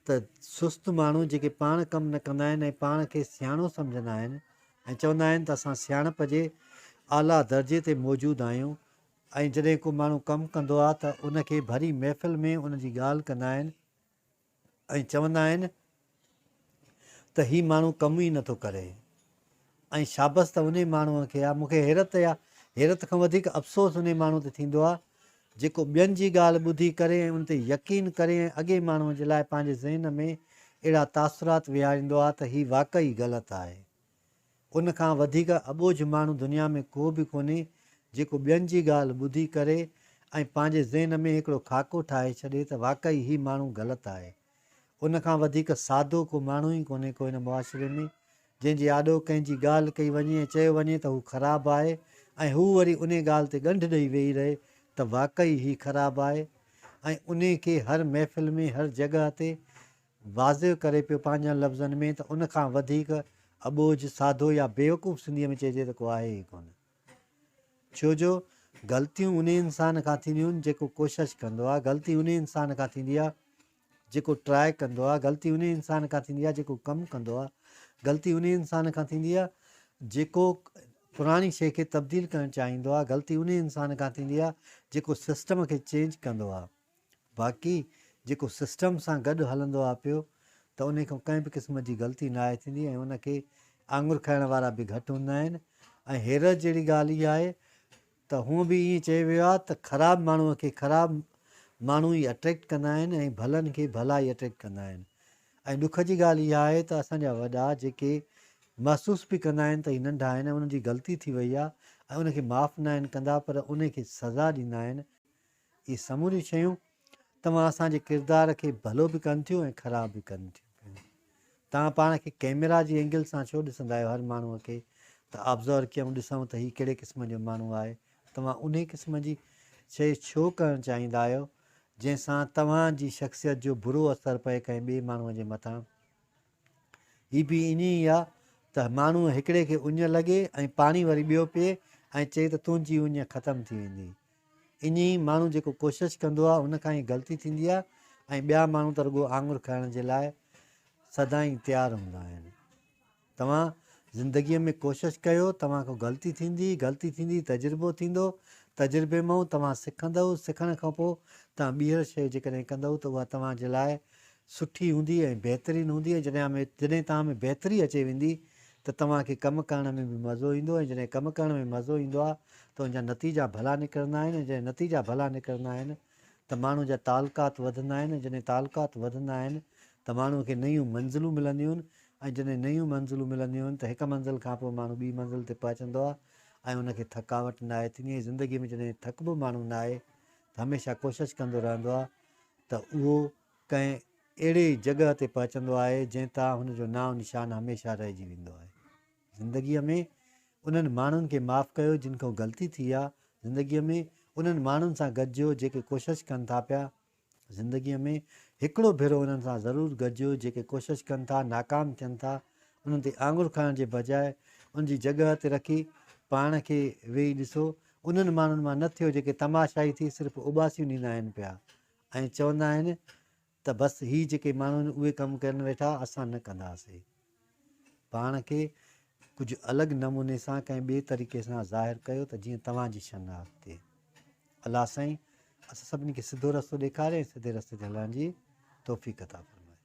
ته سست ماڻهو جيڪي پاڻ ڪم نه ڪندا آهن ۽ پاڻ کي سياڻو سمجهندا آهن ۽ چوندا آهن ته اسان سياڻپ جي اعليٰ درجي تي موجود آهيون ۽ جڏهن ڪو ماڻهو ڪم ڪندو آهي ته ان کي ڀري محفل ۾ ان جي ڳالهه ڪندا آهن ۽ چوندا آهن ته هي ماڻهو ڪم ئي نٿو ڪري. ۽ شابس ته انهي ماڻهوء کي آ، مون کي حيرت يا حيرت کان وڌيڪ افسوس انهي ماڻهوء تي ٿيندو آ، جيڪو ٻين جي ڳالهه ٻڌي ڪري ۽ ان تي يقين ڪري ۽ اڳئين ماڻهوء جي لاء پنهنجي ذهن ۾ اهڙا تاثرات ويهاريندو آ ته هي واقعي غلط آهي. ان کان وڌيڪ اٻوجهه ماڻهو دنيا ۾ ڪو به ڪونهي، جيڪو ٻين جي ڳالهه ٻڌي ڪري ۽ پنهنجي ذهن ۾ هڪڙو خاڪو ٺاهي ڇڏي ته واقعي هي ماڻهو غلط آهي. ان کان وڌيڪ سادو ڪو ماڻهو ئي ڪونهي ڪو هن معاشري ۾، جنهن جي آڏو ڪنهن جي ڳالهه ڪئي وڃي ۽ چيو وڃي ته هو خراب آهي ۽ هو وري انهي ڳالهه تي ڳنڍ ڏئي ويهي رهي ته واقعي هي خراب آهي ۽ انهي کي هر محفل ۾ هر جڳهه تي واضع ڪري پيو پنهنجن لفظن ۾ ته ان کان وڌيڪ اٻوجهه، سادو يا بيوقوف سنڌيء ۾ چئجي ته ڪو آهي ئي ڪونه. ڇو جو غلطيون انهي انسان کان ٿينديون جيڪو ڪوشش ڪندو آهي، غلطي انهي انسان کان ٿيندي آهي جيڪو ٽرائي ڪندو آهي، غلطي انهي انسان کان ٿيندي آهي جيڪو ڪم ڪندو آهي، غلطي انهي انسان کان ٿيندي آهي جيڪو پراڻي شيء کي تبديل ڪرڻ چاهيندو آهي، غلطي انهي انسان کان ٿيندي آهي جيڪو سسٽم کي چينج ڪندو آهي. باقي جيڪو سسٽم سان گڏ هلندو آهي پيو ته انهي کان ڪنهن به قسم جي غلطي ناهي ٿيندي ۽ ان کي آڱر کائڻ وارا به گهٽ هوندا آهن ۽ حيرت جهڙي ڳالهه اها آهي ته هونء به ائين چيو ويو آهي ته خراب ماڻهوء کي خراب ماڻهو ئي اٽريڪٽ ڪندا آهن ۽ ڀلن کي ڀلا ئي اٽريڪٽ ڪندا آهن ۽ ڏک جي ڳالهه اها آهي ته اسان جا وڏا جيڪي محسوس به ڪندا آهن ته هي ننڍا آهن ۽ انهن جي غلطي ٿي وئي آهي ۽ ان کي معاف ناهن ڪندا پر انهي کي سزا ڏيندا آهن اهي سموريون شيون توهان اسان جي ڪردار کي ڀلو به ڪن ٿيون ۽ خراب به ڪن ٿيون پيون. توهان پاڻ کي ڪئميرا جي اينگل سان ڇو ڏسندا آهيو هر ماڻهوء کي ته آبزور ڪيون ڏسون ته هي ڪهڙي قسم جو ماڻهو آهي توهان انهي قسم جي شيء ڇو ڪرڻ چاهيندا آهيو جنهن سان توهان جي شخصيت جو برو اثر پئي ڪنهن ٻئي ماڻهوء جي مٿان هي به ائين ئي آهي ته ماڻهوء هڪڙي کي اڃ لڳي ۽ پاڻي وري ٻيو پيئي ۽ چئي ته تنهنجي اڃ ختم ٿي ويندي ايئن ئي ماڻهو جيڪو ڪوشش ڪندو آهي ان کان ئي غلطي ٿيندي آهي ۽ ٻيا ماڻهو ته رڳو آڱر کائڻ جي لاء سدائين تيار هوندا آهن. توهان زندگيء ۾ ڪوشش ڪيو، توهان کان غلطي ٿيندي، غلطي ٿيندي تجربو ٿيندو، تجربي مئو توهان سکندئو، سکڻ کان پوء توهان ٻيهر شيء جيڪڏهن ڪندئو ته اها توهان جي لاء سٺي هوندي ۽ بهترين هوندي ۽ جڏهن ۾ جڏهن توهان ۾ بهتري اچي ويندي ته توهان کي ڪم ڪرڻ ۾ به مزو ايندو ۽ جڏهن ڪم ڪرڻ ۾ مزو ايندو آهي ته ان جا نتيجا ڀلا نڪرندا آهن ۽ جڏهن نتيجا ڀلا نڪرندا آهن ته ماڻهو جا تعلقات وڌندا آهن ۽ جڏهن تعلقات وڌندا آهن ته ماڻهو کي نيون منزلون ملنديون ۽ جڏهن نيون منزلون ملنديون ته هڪ منزل کان پوء ماڻهو ٻي منزل تي پهچندو آهي ۽ ان کي ٿڪاوٽ ناهي ٿيندي ۽ زندگي ۾ جڏهن ٿڪبو ماڻهو ناهي ته هميشه ڪوشش ڪندو رهندو آهي ته اهو ڪنهن اهڙي ئي جڳهه تي پهچندو آهي جنهن تان هن جو نانء نشان هميشه رهجي ويندو آهي. زندگيء ۾ انهن ماڻهن کي معاف ڪيو جن کان غلطي ٿي آ، زندگيء ۾ انهن ماڻهن سان گڏجو جيڪي ڪوشش ڪن ٿا پيا، زندگيء ۾ هڪڙو ڀيرو انهن سان ضرور گڏجو جيڪي ڪوشش ڪن ٿا ناڪام ٿين ٿا، انهن تي آڱر کڻڻ جي بجاء ان جي جڳهه تي رکي پاڻ کي ويهي ڏسو، انهن ماڻهن مان نه ٿيو جيڪي تماشائي ٿي صرف اوٻاسيون ڏيندا آهن پيا، ۽ چوندا آهن ته بس هي جيڪي ماڻهو آهن اهي ڪم ڪرن ويٺا اسان نه ڪنداسين پاڻ کي ڪجهه الڳ نموني سان ڪنهن ٻئي طريقي سان ظاهر ڪيو ته جيئن توهان جي شناخت ٿئي الله سائين اسان سڀني کي سڌو رستو ڏيکاري ۽ سڌي رستي تي هلڻ جي توفيق عطا فرمائي